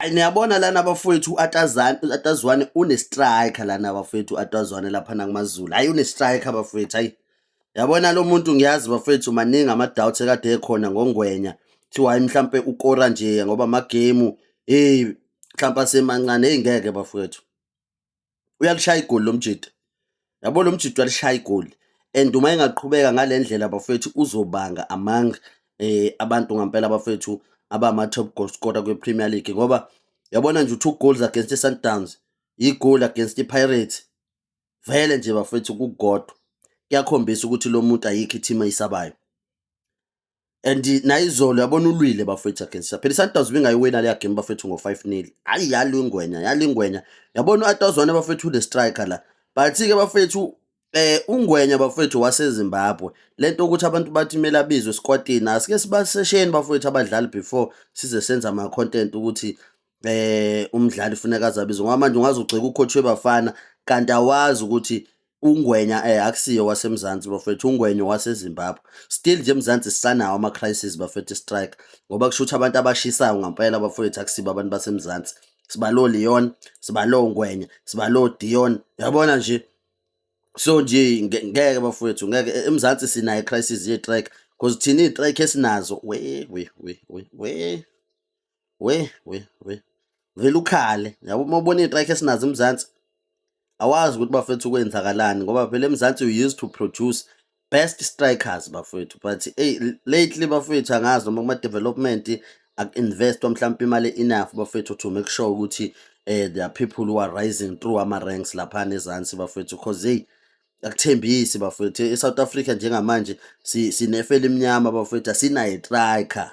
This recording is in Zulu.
Ay niyabona lana bafowethu uAtazane uAtazwane une striker lana bafowethu uAtazwane lapha nakumaZulu. Hayi une striker bafowethu hayi. Yabona lo muntu ngiyazi bafowethu maningi ama doubts ekade ekhona ngongwenya. Kuthiwa hayi mhlambe ukora nje ngoba ama game hey mhlambe asemancane hey ngeke bafowethu. uyalishaya igoli lo mjita yabo lo mjita uyalishaya igoli and uma engaqhubeka ngale ndlela bafethu uzobanga among eh abantu ngampela abafethu abama-top goal scorer kwi-premier league ngoba yabona nje u-two goals against i-sundowns yi-goal against i-pirates vele nje bafethu kukodwa kuyakhombisa ukuthi lo muntu ayikho i-team ayisabayo and nayizolo yabona ulwile bafethu against phela isundowns ibingayiwina leya game bafethu ngo-five nil hhayi yalingwenya yalingwenya yabona u-atawuzona bafethu ule striker la but-ke bafethu Eh uNgwenya bafowethu waseZimbabwe lento ukuthi abantu bathi kumele abizwe esikwatini asike sibasesheni bafowethu abadlali before size senza ama content ukuthi eh umdlali funeka azabizwe ngoba manje ungaze ugxeke ucoach webafana kanti awazi ukuthi ungwenya eh akusiyo wasemzansi bafethu ungwenya wasezimbabwe still nje emzansi sisanawo ama-crisis bafethu strike ngoba kusho ukuthi abantu abashisayo ngampela bafethu akusibo abantu basemzansi sibalo leon sibalo ngwenya sibalo dion yabona nje so nje ngeke bafethu ngeke e, emzansi sinayo i-crisis ye-trike because thina iy'trike esinazo we we we we we we we we vele ukhale yabo uma ubona iy'trike esinazo emzansi awazi ukuthi bafethu kwenzakalani ngoba phela emzansi you used to produce best strikers bafethu but hey, lately bafethu angazi noma kuma-development aku-investwa mhlawumpe imali enough bafethu to make sure ukuthi eh there are people who are rising through ama ranks lapha nezansi bafethu cause hey akuthembisi bafethu eSouth Africa njengamanje sinefe elimnyama bafethu asinaye striker